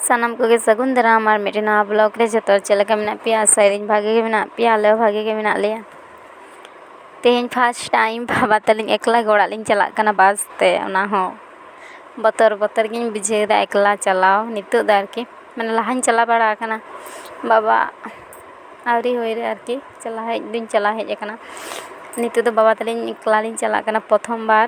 ᱥᱟᱱᱟᱢ ᱠᱚᱜᱮ ᱥᱟᱹᱜᱩᱱ ᱫᱟᱨᱟᱢ ᱟᱨ ᱢᱤᱫᱴᱮᱱ ᱱᱟᱣᱟ ᱵᱞᱚᱜᱽ ᱨᱮ ᱡᱚᱛᱚ ᱦᱚᱲ ᱪᱮᱫ ᱞᱮᱠᱟ ᱢᱮᱱᱟᱜ ᱯᱮᱭᱟ ᱟᱥᱟᱭᱮᱫᱟᱹᱧ ᱵᱷᱟᱜᱮ ᱜᱮ ᱢᱮᱱᱟᱜ ᱯᱮᱭᱟ ᱟᱞᱮ ᱦᱚᱸ ᱵᱷᱟᱜᱮ ᱜᱮ ᱢᱮᱱᱟᱜ ᱞᱮᱭᱟ ᱛᱮᱦᱮᱧ ᱯᱷᱟᱥᱴ ᱴᱟᱭᱤᱢ ᱵᱟᱵᱟ ᱛᱟᱹᱞᱤᱧ ᱮᱠᱞᱟ ᱜᱮ ᱚᱲᱟᱜ ᱞᱤᱧ ᱪᱟᱞᱟᱜ ᱠᱟᱱᱟ ᱵᱟᱥ ᱛᱮ ᱚᱱᱟ ᱦᱚᱸ ᱵᱚᱛᱚᱨ ᱵᱚᱛᱚᱨ ᱜᱤᱧ ᱵᱩᱡᱷᱟᱹᱣᱮᱫᱟ ᱮᱠᱞᱟ ᱪᱟᱞᱟᱣ ᱱᱤᱛᱚᱜ ᱫᱚ ᱟᱨᱠᱤ ᱢᱟᱱᱮ ᱞᱟᱦᱟᱧ ᱪᱟᱞᱟᱣ ᱵᱟᱲᱟ ᱟᱠᱟᱱᱟ ᱵᱟᱵᱟ ᱟᱹᱣᱨᱤ ᱦᱩᱭ ᱨᱮ ᱟᱨᱠᱤ ᱪᱟᱞᱟᱣ ᱦᱮᱡ ᱫᱩᱧ ᱪᱟᱞᱟᱣ ᱦᱮᱡ ᱟᱠᱟᱱᱟ ᱱᱤᱛᱚᱜ ᱫᱚ ᱵᱟᱵᱟ ᱛᱟᱹᱞᱤᱧ ᱮᱠᱞᱟ ᱞᱤᱧ ᱪᱟᱞᱟᱜ ᱠᱟᱱᱟ ᱯᱨᱚᱛᱷᱚᱢ ᱵᱟᱨ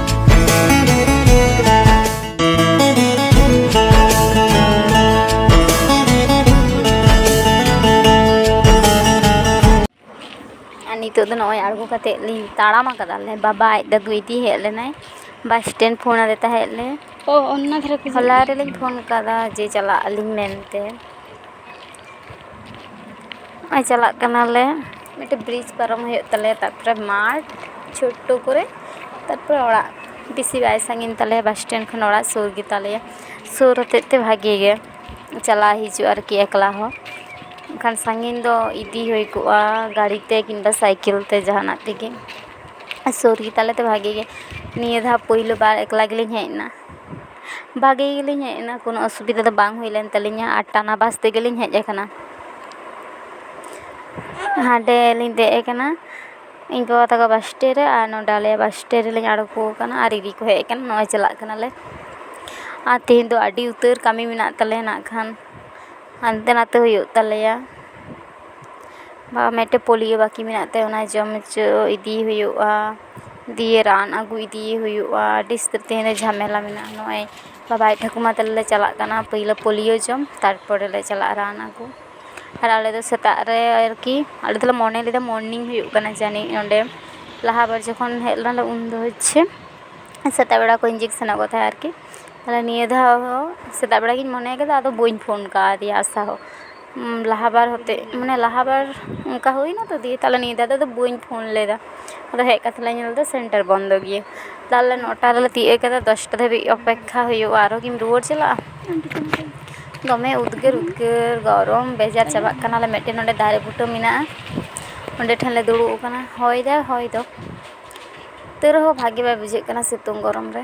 ᱱᱤᱛᱚᱜ ᱫᱚ ᱱᱚᱜᱼᱚᱭ ᱟᱬᱜᱚ ᱠᱟᱛᱮᱫ ᱞᱤᱧ ᱛᱟᱲᱟᱢ ᱟᱠᱟᱫᱟᱞᱮ ᱵᱟᱵᱟ ᱟᱡ ᱫᱟᱫᱩ ᱤᱫᱤ ᱦᱮᱡ ᱞᱮᱱᱟᱭ ᱵᱟᱥ ᱥᱴᱮᱱᱰ ᱯᱷᱳᱱ ᱟᱫᱮ ᱛᱟᱦᱮᱸᱫ ᱞᱮ ᱚ ᱚᱱᱟ ᱫᱷᱟᱨᱮ ᱦᱚᱞᱟ ᱨᱮᱞᱤᱧ ᱯᱷᱳᱱ ᱟᱠᱟᱫᱟ ᱡᱮ ᱪᱟᱞᱟᱜ ᱟᱹᱞᱤᱧ ᱢᱮᱱᱛᱮ ᱱᱚᱜᱼᱚᱭ ᱪᱟᱞᱟᱜ ᱠᱟᱱᱟᱞᱮ ᱢᱤᱫᱴᱮᱱ ᱵᱨᱤᱡᱽ ᱯᱟᱨᱚᱢ ᱦᱩᱭᱩᱜ ᱛᱟᱞᱮᱭᱟ ᱛᱟᱨᱯᱚᱨᱮ ᱢᱟᱴᱷ ᱪᱷᱳᱴᱳ ᱠᱚᱨᱮ ᱛᱟᱨᱯᱚᱨᱮ ᱚᱲᱟᱜ ᱵᱮᱥᱤ ᱵᱟᱭ ᱥᱟᱺᱜᱤᱧ ᱛᱟᱞᱮᱭᱟ ᱵᱟᱥ ᱥᱴᱮᱱᱰ ᱠᱷᱚᱱ ᱚᱲᱟᱜ ᱥᱩᱨ ᱜᱮᱛᱟᱞᱮᱭᱟ ᱥᱩᱨ ᱦᱚᱛᱮᱡ ᱛᱮ ᱵᱷᱟᱜᱮ ᱜᱮ ᱪᱟᱞᱟᱣ ᱦᱤᱡᱩᱜ ᱟᱨᱠᱤ ᱮᱠᱞᱟ ᱦᱚᱸ ᱮᱱᱠᱷᱟᱱ ᱥᱟᱺᱜᱤᱧ ᱫᱚ ᱤᱫᱤ ᱦᱩᱭ ᱠᱚᱜᱼᱟ ᱜᱟᱹᱰᱤ ᱛᱮ ᱠᱤᱢᱵᱟ ᱥᱟᱭᱠᱮᱞ ᱛᱮ ᱡᱟᱦᱟᱱᱟᱜ ᱛᱮᱜᱮ ᱟᱨ ᱥᱩᱨ ᱜᱮᱛᱟᱞᱮ ᱛᱮ ᱵᱷᱟᱜᱮ ᱜᱮ ᱱᱤᱭᱟᱹ ᱫᱷᱟᱣ ᱯᱳᱭᱞᱳ ᱵᱟᱨ ᱮᱠᱞᱟ ᱜᱮᱞᱤᱧ ᱦᱮᱡ ᱮᱱᱟ ᱵᱷᱟᱜᱮ ᱜᱮᱞᱤᱧ ᱦᱮᱡ ᱮᱱᱟ ᱠᱳᱱᱳ ᱚᱥᱩᱵᱤᱫᱷᱟ ᱫᱚ ᱵᱟᱝ ᱦᱩᱭ ᱞᱮᱱ ᱛᱟᱹᱞᱤᱧᱟ ᱟᱨ ᱴᱟᱱᱟ ᱵᱟᱥ ᱛᱮᱜᱮᱞᱤᱧ ᱦᱮᱡ ᱠᱟᱱᱟ ᱦᱟᱸᱰᱮ ᱞᱤᱧ ᱫᱮᱡ ᱠᱟᱱᱟ ᱤᱧ ᱜᱚ ᱛᱟᱠᱚ ᱵᱟᱥ ᱥᱴᱮᱱᱰ ᱨᱮ ᱟᱨ ᱱᱚᱰᱮ ᱟᱞᱮᱭᱟᱜ ᱵᱟᱥ ᱥᱴᱮᱱᱰ ᱨᱮᱞᱤᱧ ᱟᱬᱜᱚ ᱠᱟᱱᱟ ᱟᱨ ᱤᱫᱤ ᱠᱚ ᱦᱮᱡ ᱠᱟᱱᱟ ᱱᱚᱜᱼᱚᱭ ᱪᱟᱞᱟᱜ ᱠᱟᱱᱟᱞᱮ ᱟᱨ ᱛᱮᱦᱮᱧ ᱫᱚ ᱟᱹᱰᱤ ᱩᱛᱟᱹᱨ ᱠᱟᱹᱢᱤ ᱢᱮᱱᱟᱜ ᱛᱟᱞᱮᱭᱟ ᱱᱟᱜ ᱠᱷᱟᱱ ᱦᱟᱱᱛᱮ ᱱᱟᱛᱮ ᱦᱩᱭᱩᱜ ᱛᱟᱞᱮᱭᱟ ᱵᱟ ᱢᱤᱫᱴᱮᱱ ᱯᱳᱞᱤᱭᱳ ᱵᱟᱹᱠᱤ ᱢᱮᱱᱟᱜ ᱛᱟᱭᱟ ᱚᱱᱟ ᱡᱚᱢ ᱦᱚᱪᱚ ᱤᱫᱤᱭᱮ ᱦᱩᱭᱩᱜᱼᱟ ᱫᱤᱭᱮ ᱨᱟᱱ ᱟᱹᱜᱩ ᱤᱫᱤᱭᱮ ᱦᱩᱭᱩᱜᱼᱟ ᱟᱹᱰᱤ ᱩᱥᱛᱟᱹᱨ ᱛᱮᱦᱮᱧ ᱫᱚ ᱡᱷᱟᱢᱮᱞᱟ ᱢᱮᱱᱟᱜᱼᱟ ᱱᱚᱜᱼᱚᱭ ᱵᱟᱵᱟ ᱟᱡ ᱴᱷᱟᱹᱠᱩᱢᱟ ᱛᱟᱞᱮ ᱞᱮ ᱪᱟᱞᱟᱜ ᱠᱟᱱᱟ ᱯᱳᱭᱞᱳ ᱯᱳᱞᱤᱭᱳ ᱡᱚᱢ ᱛᱟᱨᱯᱚᱨᱮ ᱞᱮ ᱪᱟᱞᱟᱜᱼᱟ ᱨᱟᱱ ᱟᱹᱜᱩ ᱟᱨ ᱟᱞᱮ ᱫᱚ ᱥᱮᱛᱟᱜ ᱨᱮ ᱟᱨᱠᱤ ᱟᱞᱮ ᱫᱚᱞᱮ ᱢᱚᱱᱮ ᱞᱮᱫᱟ ᱢᱚᱨᱱᱤᱝ ᱦᱩᱭᱩᱜ ᱠᱟᱱᱟ ᱡᱟᱹᱱᱤᱡ ᱱᱚᱸᱰᱮ ᱞᱟᱦᱟ ᱵᱟᱨ ᱡᱚᱠᱷᱚᱱ ᱦᱮᱡ ᱞᱮᱱᱟᱞᱮ ᱩᱱ ᱫᱚ ᱦᱚᱪᱪᱷᱮ ᱥᱮᱛᱟᱜ ᱵᱮᱲᱟ ᱠᱚ ᱤᱧᱡᱮᱠᱥᱮᱱᱟᱜ ᱠᱚ ᱛᱟᱦᱮᱸᱫ ᱟᱨᱠᱤ ᱛᱟᱦᱚᱞᱮ ᱱᱤᱭᱟᱹ ᱫᱷᱟᱣ ᱦᱚᱸ ᱥᱮᱛᱟᱜ ᱵᱮᱲᱟ ᱜᱤᱧ ᱢᱚᱱᱮ ᱠᱟᱫᱟ ᱟᱫᱚ ᱵᱟᱹᱧ ᱯᱷᱳᱱ ᱠᱟᱣᱫᱮᱭᱟ ᱟᱥᱟ ᱦᱚᱸ ᱞᱟᱦᱟ ᱵᱟᱨ ᱦᱚᱛᱮᱡ ᱢᱟᱱᱮ ᱞᱟᱦᱟ ᱵᱟᱨ ᱚᱱᱠᱟ ᱦᱩᱭᱱᱟ ᱛᱚ ᱫᱤᱭᱮ ᱛᱟᱦᱚᱞᱮ ᱱᱤᱭᱟᱹ ᱫᱷᱟᱣ ᱫᱚ ᱵᱟᱹᱧ ᱯᱷᱳᱱ ᱞᱮᱫᱟ ᱟᱫᱚ ᱦᱮᱡ ᱠᱟᱛᱮ ᱞᱮ ᱧᱮᱞ ᱮᱫᱟ ᱥᱮᱱᱴᱟᱨ ᱵᱚᱱᱫᱚ ᱜᱮᱭᱟ ᱛᱟᱦᱚᱞᱮ ᱱᱚᱴᱟ ᱨᱮᱞᱮ ᱛᱤᱭᱳᱜ ᱠᱟᱫᱟ ᱫᱚᱥᱴᱟ ᱫᱷᱟᱹᱵᱤᱡ ᱚᱯᱮᱠᱠᱷᱟ ᱦᱩᱭᱩᱜᱼᱟ ᱟᱨᱚ ᱠᱤᱢ ᱨᱩᱣᱟᱹᱲ ᱪᱟᱞᱟᱜᱼᱟ ᱫᱚᱢᱮ ᱩᱫᱽᱜᱟᱹᱨ ᱩᱫᱽᱜᱟᱹᱨ ᱜᱚᱨᱚᱢ ᱵᱮᱡᱟᱨ ᱪᱟᱵᱟᱜ ᱠᱟᱱᱟᱞᱮ ᱢᱤᱫᱴᱮᱱ ᱱᱚᱰᱮ ᱫᱟᱨᱮ ᱵᱩᱴᱟᱹ ᱢᱮᱱᱟᱜᱼᱟ ᱚᱸᱰᱮ ᱴᱷᱮᱱ ᱞᱮ ᱫᱩᱲᱩᱵ ᱟᱠᱟᱱᱟ ᱦᱚᱭ ᱫᱟᱭ ᱦᱚᱭ ᱫᱚ ᱛᱟᱹᱣ ᱨᱮᱦᱚᱸ ᱵᱷᱟᱜᱮ ᱵᱟᱭ ᱵᱩᱡᱷᱟᱹᱜ ᱠᱟᱱᱟ ᱥᱤᱛᱩᱝ ᱜᱚᱨᱚᱢ ᱨᱮ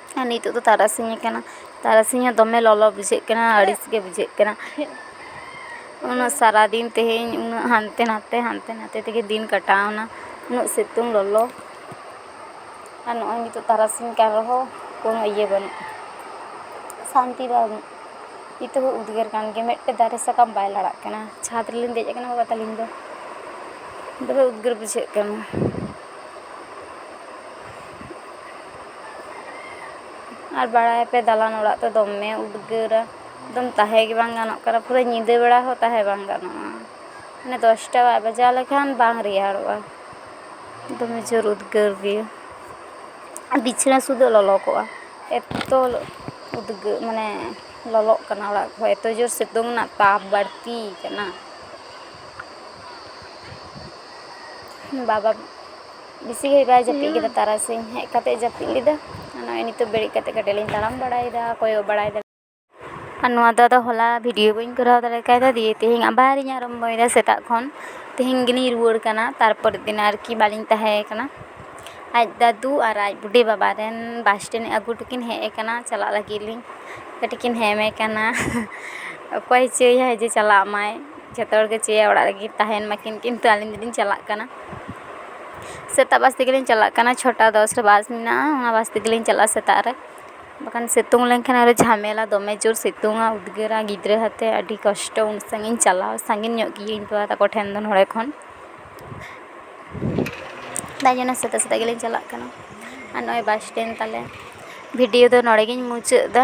ᱟᱨ ᱱᱤᱛᱳᱜ ᱫᱚ ᱛᱟᱨᱟᱥᱤᱧ ᱟᱠᱟᱱᱟ ᱛᱟᱨᱟᱥᱤᱧ ᱦᱚᱸ ᱫᱚᱢᱮ ᱞᱚᱞᱚ ᱵᱩᱡᱷᱟᱹᱜ ᱠᱟᱱᱟ ᱟᱹᱲᱤᱥ ᱜᱮ ᱵᱩᱡᱷᱟᱹᱜ ᱠᱟᱱᱟ ᱚᱱᱟ ᱥᱟᱨᱟ ᱫᱤᱱ ᱛᱮᱦᱮᱧ ᱩᱱᱟᱹᱜ ᱦᱟᱱᱛᱮ ᱱᱟᱛᱮ ᱦᱟᱱᱛᱮ ᱱᱟᱛᱮ ᱛᱮᱜᱮ ᱫᱤᱱ ᱠᱟᱴᱟᱣᱮᱱᱟ ᱩᱱᱟᱹᱜ ᱥᱤᱛᱩᱝ ᱞᱚᱞᱚ ᱟᱨ ᱱᱚᱜᱼᱚᱭ ᱱᱤᱛᱳᱜ ᱛᱟᱨᱟᱥᱤᱧ ᱟᱠᱟᱱ ᱨᱮᱦᱚᱸ ᱠᱳᱱᱳ ᱤᱭᱟᱹ ᱵᱟᱹᱱᱩᱜᱼᱟ ᱥᱟᱱᱛᱤ ᱵᱟᱹᱱᱩᱜᱼᱟ ᱱᱤᱛᱳᱜ ᱦᱚᱸ ᱩᱫᱽᱜᱟᱹᱨ ᱠᱟᱱ ᱜᱮᱭᱟ ᱢᱤᱫᱴᱮᱱ ᱫᱟᱨᱮ ᱥᱟᱠᱟᱢ ᱵᱟᱭ ᱞᱟᱲᱟᱜ ᱠᱟᱱᱟ ᱪᱷᱟᱫᱽ ᱨᱮᱞᱤᱧ ᱫᱮᱡ ᱟᱠᱟᱱᱟ ᱵᱟᱵᱟ ᱛᱟᱹᱞᱤᱧ ᱫᱚ ᱫᱚᱢᱮ ᱩᱫᱽᱜᱟᱹᱨ ᱵᱩᱡᱷᱟᱹᱜ ᱠᱟᱱᱟ ᱟᱨ ᱵᱟᱲᱟᱭᱟᱯᱮ ᱫᱟᱞᱟᱱ ᱚᱲᱟᱜ ᱛᱚ ᱫᱚᱢᱮ ᱩᱫᱽᱜᱟᱹᱨᱟ ᱮᱠᱫᱚᱢ ᱛᱟᱦᱮᱸ ᱜᱮ ᱵᱟᱝ ᱜᱟᱱᱚᱜ ᱠᱟᱱᱟ ᱯᱩᱨᱟᱹ ᱧᱤᱫᱟᱹ ᱵᱮᱲᱟ ᱦᱚᱸ ᱛᱟᱦᱮᱸ ᱵᱟᱝ ᱜᱟᱱᱚᱜᱼᱟ ᱢᱟᱱᱮ ᱫᱚᱥᱴᱟ ᱵᱟᱭ ᱵᱟᱡᱟᱣ ᱞᱮᱠᱷᱟᱱ ᱵᱟᱝ ᱨᱮᱭᱟᱲᱚᱜᱼᱟ ᱫᱚᱢᱮ ᱡᱳᱨ ᱩᱫᱽᱜᱟᱹᱨ ᱜᱮ ᱟᱨ ᱵᱤᱪᱷᱱᱟᱹ ᱥᱩᱫᱷᱟᱹᱜ ᱞᱚᱞᱚ ᱠᱚᱜᱼᱟ ᱮᱛᱚ ᱩᱫᱽᱜᱟᱹᱨ ᱢᱟᱱᱮ ᱞᱚᱞᱚᱜ ᱠᱟᱱᱟ ᱚᱲᱟᱜ ᱠᱚᱦᱚᱸ ᱮᱛᱚ ᱡᱳᱨ ᱥᱤᱛᱩᱝ ᱨᱮᱱᱟᱜ ᱛᱟᱯ ᱵᱟᱹᱲᱛᱤ ᱠᱟᱱᱟ ᱵᱟᱵᱟ ᱵᱮᱥᱤ ᱜᱷᱟᱹᱲᱤᱡ ᱵᱟᱭ ᱡᱟᱹᱯᱤᱫ ᱠᱮᱫᱟ ᱛᱟᱨᱟᱥᱤᱧ ᱦᱮᱡ ᱠᱟᱛᱮ ᱡᱟᱹᱯᱤᱫ ᱞᱮᱫᱟ ᱱᱚᱜᱼᱚᱭ ᱱᱤᱛᱚᱜ ᱵᱮᱨᱮᱫ ᱠᱟᱛᱮ ᱠᱟᱹᱴᱤᱡ ᱞᱤᱧ ᱛᱟᱲᱟᱢ ᱵᱟᱲᱟᱭᱮᱫᱟ ᱠᱚᱭᱚᱜ ᱵᱟᱲᱟᱭᱮᱫᱟ ᱟᱨ ᱱᱚᱣᱟ ᱫᱚ ᱟᱫᱚ ᱦᱚᱞᱟ ᱵᱷᱤᱰᱤᱭᱳ ᱵᱟᱹᱧ ᱠᱚᱨᱟᱣ ᱫᱟᱲᱮ ᱠᱟᱣᱫᱟ ᱫᱤᱭᱮ ᱛᱮᱦᱮᱧ ᱟᱵᱟᱨᱤᱧ ᱟᱨᱟᱢᱵᱚᱭᱮᱫᱟ ᱥᱮᱛᱟᱜ ᱠᱷᱚᱱ ᱛᱮᱦᱮᱧ ᱜᱮᱞᱤᱧ ᱨᱩᱣᱟᱹᱲ ᱠᱟᱱᱟ ᱛᱟᱨᱯᱚᱨᱮᱨ ᱫᱤᱱ ᱟᱨᱠᱤ ᱵᱟᱹᱞᱤᱧ ᱛᱟᱦᱮᱸ ᱠᱟᱱᱟ ᱟᱡ ᱫᱟᱹᱫᱩ ᱟᱨ ᱟᱡ ᱵᱩᱰᱤ ᱵᱟᱵᱟ ᱨᱮᱱ ᱵᱟᱥ ᱴᱨᱮᱱ ᱟᱹᱜᱩ ᱦᱚᱴᱚ ᱠᱤᱱ ᱦᱮᱡ ᱠᱟᱱᱟ ᱪᱟᱞᱟᱜ ᱞᱟᱹᱜᱤᱫ ᱞᱤᱧ ᱠᱟᱹᱴᱤᱡ ᱠᱤᱱ ᱦᱮᱢᱮ ᱠᱟᱱᱟ ᱚᱠᱚᱭ ᱪᱚᱭ ᱦᱟᱭ ᱡᱮ ᱪᱟᱞᱟᱜ ᱢᱟᱭ ᱡᱷᱚᱛᱚ ᱦᱚᱲ ᱜᱮ ᱪᱟᱹᱭᱟ ᱚᱲᱟᱜ ᱨᱮᱜᱮ ᱛᱟᱦᱮᱱ ᱢᱟᱠᱤᱱ ᱠᱤᱱᱛᱩ ᱟᱹᱞᱤᱧ ᱫᱚᱞᱤᱧ ᱪᱟᱞᱟᱜ ᱠᱟᱱᱟ ᱥᱮᱛᱟᱜ ᱵᱟᱥ ᱛᱮᱜᱮ ᱞᱤᱧ ᱪᱟᱞᱟᱜ ᱠᱟᱱᱟ ᱪᱷᱚᱴᱟ ᱫᱚᱥ ᱨᱮ ᱵᱟᱥ ᱢᱮᱱᱟᱜᱼᱟ ᱚᱱᱟ ᱵᱟᱥ ᱛᱮᱜᱮ ᱞᱤᱧ ᱪᱟᱞᱟᱜᱼᱟ ᱥᱮᱛᱟᱜ ᱨᱮ ᱵᱟᱠᱷᱟᱱ ᱥᱤᱛᱩᱝ ᱞᱮᱱᱠᱷᱟᱱ ᱟᱨᱚ ᱡᱷᱟᱢᱮᱞᱟ ᱫᱚᱢᱮ ᱡᱳᱨ ᱥᱤᱛᱩᱝᱟ ᱩᱫᱽᱜᱟᱹᱨᱟ ᱜᱤᱫᱽᱨᱟᱹ ᱟᱛᱮ ᱟᱹᱰᱤ ᱠᱚᱥᱴᱚ ᱩᱱ ᱥᱟᱺᱜᱤᱧ ᱪᱟᱞᱟᱣ ᱥᱟᱺᱜᱤᱧ ᱧᱚᱜ ᱜᱮᱭᱟ ᱤᱧ ᱵᱟᱵᱟ ᱛᱟᱠᱚ ᱴᱷᱮᱱ ᱫᱚ ᱱᱚᱰᱮ ᱠᱷᱚᱱ ᱛᱟᱭ ᱡᱮᱱᱚ ᱥᱮᱛᱟᱜ ᱥᱮᱛᱟᱜ ᱜᱮᱞᱤᱧ ᱪᱟᱞᱟᱜ ᱠᱟᱱᱟ ᱟᱨ ᱱᱚᱜᱼᱚᱭ ᱵᱟᱥ ᱥᱴᱮᱱᱰ ᱛᱟᱞᱮ ᱵᱷᱤᱰᱤᱭᱳ ᱫᱚ ᱱᱚᱰᱮ ᱜᱮᱧ ᱢᱩᱪᱟᱹᱫ ᱮᱫᱟ